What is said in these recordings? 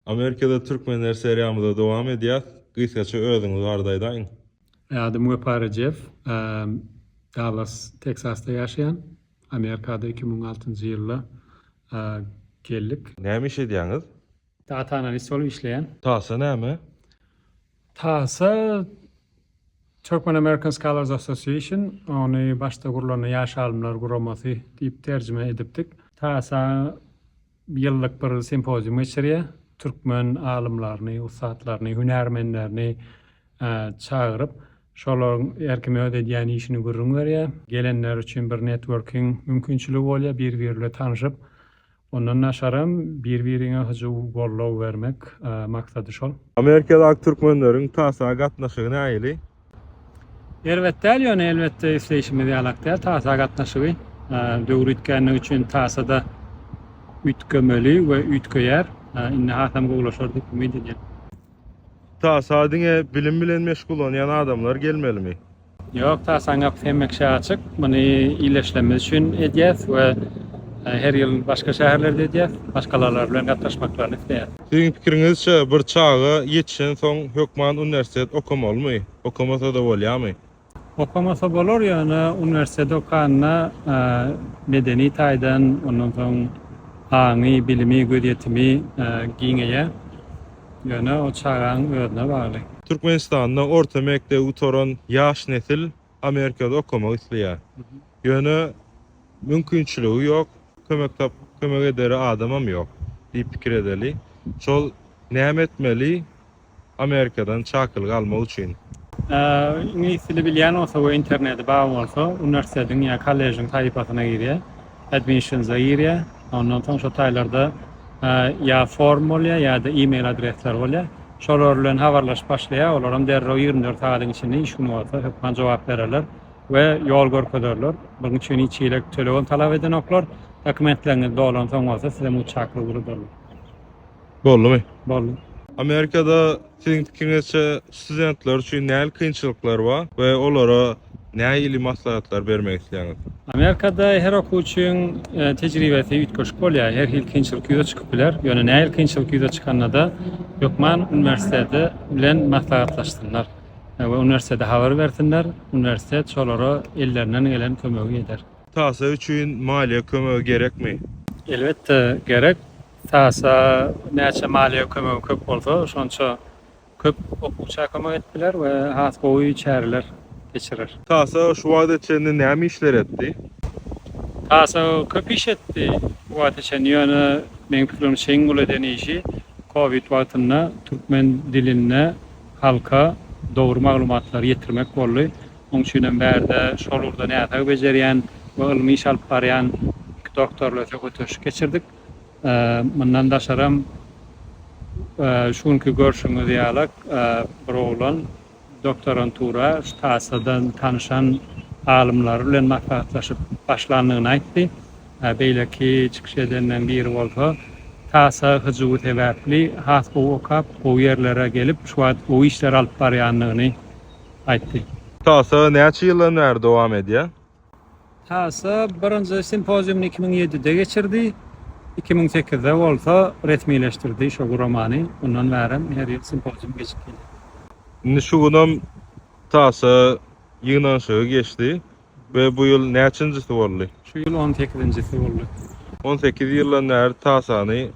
Amerikada Türkmenler seriýamyza dowam edýäs. Gysgaça özüňizi barada aýdaýyň. Adym Wepa Rejep. Dallas, Teksasda ýaşaýan. Amerikada iki müň altynjy ýylda geldik. Näme iş edýäňiz? Data analist bolup işleýän. Tasa näme? Tasa Turkmen American Scholars Association, ony başda gurulanda Ýaş alymlar guramasy diýip terjime edipdik. Tasa ýyllyk bir simpozium geçirýär. Türkmen alymlaryny, ussatlaryny, hünärmenlerini çagyryp, şolaryň her kim öz edýän işini gürrüň berýär. Gelenler üçin bir networking mümkinçiligi bolýar, bir-biri bilen tanşyp, ondan daşaram bir-biriňe hyjuw, goldaw bermek maksady şol. Amerikadaky türkmenleriň TASA gatnaşygy nähili? Erbet däl, ýöne elbetde isleýşimiz ýalak däl. TASA gatnaşygy döwür üýtgänligi üçin TASA-da üýtgemeli we üýtgeýär. Indi hasam gowulaşar diýip umyt edýän. TASA diňe bilim bilen meşgullanýan adamlar gelmelimi? Ýok, TASA-nyň gapysy hemişe açyk. Muny illeşlemiz üçin edýäs we her ýyl başga şäherlerde edýäs. Maşgalalar bilen gatnaşmaklaryny isleýäs. Siziň pikiriňizçe bir çaga ýetişen soň hökman uniwersitet okamalymy? Okamasada bolýamy? Okamasa bolar ýöne uniwersitet okanda medeni taýdan ondan soň aňy, bilimi, gözýetimi giňeýär. Ýöne o çagaň özüne bagly. Türkmenistanda orta mekdebi gutaran ýaş nesil Amerikada okamak isleýär. Ýöne mümkinçiligi ýok, kömek tapyp kömek edere adamam ýok diýip pikir edeli. Şol näme etmeli Amerikadan çakylyk almak üçin? Iňlis dili bilýän bolsa we interneti bar bolsa, uniwersitetiň ýa kollejiň sahypasyna girýär. Admission Zaire, ondan soň şo taýlarda ýa form bolýar, ýa-da e-mail adresler bolýar. Şolar bilen habarlaşyp başlaýar, olaram derrew ýigrimi dört sagadyň içinde, iş güni bolsa hökman jogap bererler we ýol görkezerler. Bunuň üçin hiç hili tölegem talap edenoklar. Dokumentleriňiz dolansoň bolsa size muçaklyk ugradarlar. Boldumy? Boldy. Amerikada Siziň pikiňizçe, studentler üçin nähili kynçylyklar bar we olara näili maslahatlar bermek isleýäňiz? Amerikada her okuwçyň tejribesi üýtgeşik bolýar. Her hili kynçylyk ýüze çykyp biler. Ýöne nähili kynçylyk ýüze çykanda-da hökman uniwersiteti bilen maslahatlaşsynlar we uniwersitete habar bersinler. Uniwersitet şolara ellerinden gelen kömegi eder. Tahsyl üçin maliýe kömegi gerekmi? Elbetde gerek. Sasa näçe maliýe kömegi köp bolsa, şonça köp okuwça kömek edip biler we has gowy çäreler geçirer. Sasa şu wagta çenli näme işler etdi? Sasa köp iş etdi bu wagta çenli, ýöne meň pikirimçe çeýiň uly eden işi covid wagtynda türkmen dilinde halka dogry maglumatlary ýetirmek boldy. Oň üçin hem bärde şol ugurda näsag bejerýän we ylmy iş alyp barýan iki doktor bilen söhbetdeşlik geçirdik. Mundan daşaram, şu günki görşüňiz ýalak bir oglan doktorantura Ştasadan tanyşan alymlary bilen maslahatlaşyp başlandygyny aýtdy. Beýleki çykyş edenden biri bolsa, Tasa hyjuwy sebäpli has gowy okap, gowy ýerlere gelip, şu wagt gowy işler alyp barýandygyny aýtdy. Tasa näçe ýyldan bäri dowam edýär? Tasa birinji simpoziumyny iki müň ýedide geçirdi, iki müň sekizde bolsa resmileşdirdi şo guramany, ondan bärem her ýyl simpozium geçip gelýär. Indi şu günem Tasa ýygnanyşygy geçdi we bu ýyl näçinjisi boldy? Şu ýyl on sekizinjisi boldy. On sekiz ýyldan bäri Tasany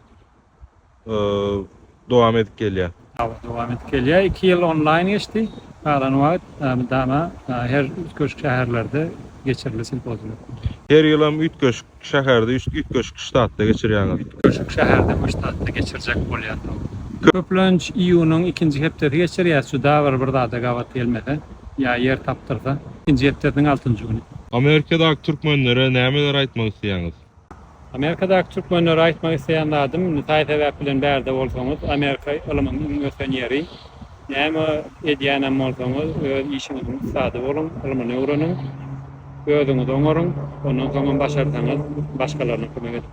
dowam edip gelýär. Hawa, dowam edip gelýär. Iki ýyl onlaýn geçdi. Galan wagt mydama her üýtgeşik şäherlerde geçirildi simpoziumlar. Her ýylam üýtgeşik şäherde, üýtgeşik ştatda geçirýäňiz? Üýtgeşik şäherde we ştatda geçirjek bolýas, hawa. Köplenç iýunyň ikinji hepdesi geçirýäs, juda bir bir zada gabat gelmese ýa ýer tapdyrsa, ikinji hepdesiniň altynjy güni. Amerikadaky türkmenlere nämeleri aýtmak isleýäňiz? Amerikadaky türkmenlere aýtmak isleýän zadym, taý sebäp bilen bärde bolsaňyz, Amerika ylymyň iň ösen ýeri. Näme edýänem bolsaňyz, öz işiňiziň ussady boluň, ylmyny öwreniň, özüňizi oňaryň, ondan soňam başarsaňyz, başgalaryna kömek ediň.